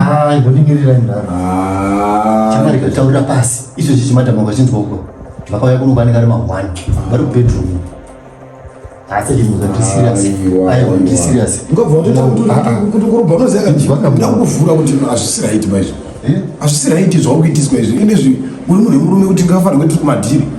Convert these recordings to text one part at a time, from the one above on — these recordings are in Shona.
Ah, imbonimirirai murara. Ah. Chamari kutaurira pasi. Icho chichi madam wakachinzwa uko. Vakauya kuno kwanenge ari ma 1. Vari ku bedroom. Asi chinhu kuti serious. Ayi kuti serious. Ngobva kuti kuti kurubva unoziva kuti vakamda kuvhura kuti azvisi right maizvo. Eh? Azvisi right zvauri kuitiswa izvi. Ende zvi uri munhu murume kuti ngafanire kuti kumadhiri.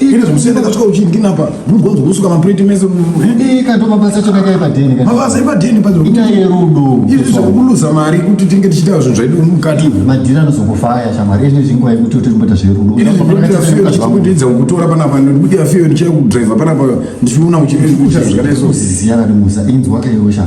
Iri zvimusiyana kasvika uchidini apa mugonzo kusuka maplate mese ika ndo mabasa acho kakai padheni ka mabasa epadheni pa ita yerudo izvi zvekuluza mari kuti tinge tichitaura zvinhu zvaidu mukati madhiri anozokufaya shamari izvi zvinguva yekuti kuti mboita zverudo izvi zvinoita fiyo ndichikudidza kukutora panapa ndikuita fiyo ndichakudriver panapa ndichiona uchikuita zvakadai so zviziya kati musa inzwa kaiosha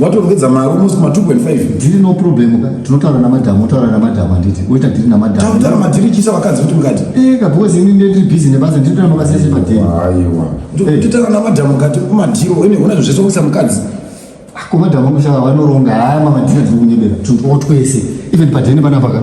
watorongedza mari almost ma 2.5 dhiri no problem ka tinotaura namadhamu otaura namadhamu handiti oita dhiri namadhamu tautaura madhiri chisa vakadzi kuti mukati eka eh, because ini ndiri busy nebasa ndinotaura mabasa ese madhiri aiwa eh. totaura namadhamu kati kumadhiri ine hona zvese kuisa mukadzi ah, kumadhamu anoshaa vanoronga haya mamadhiri atiri kunyebera tunotwese even padhene panapaka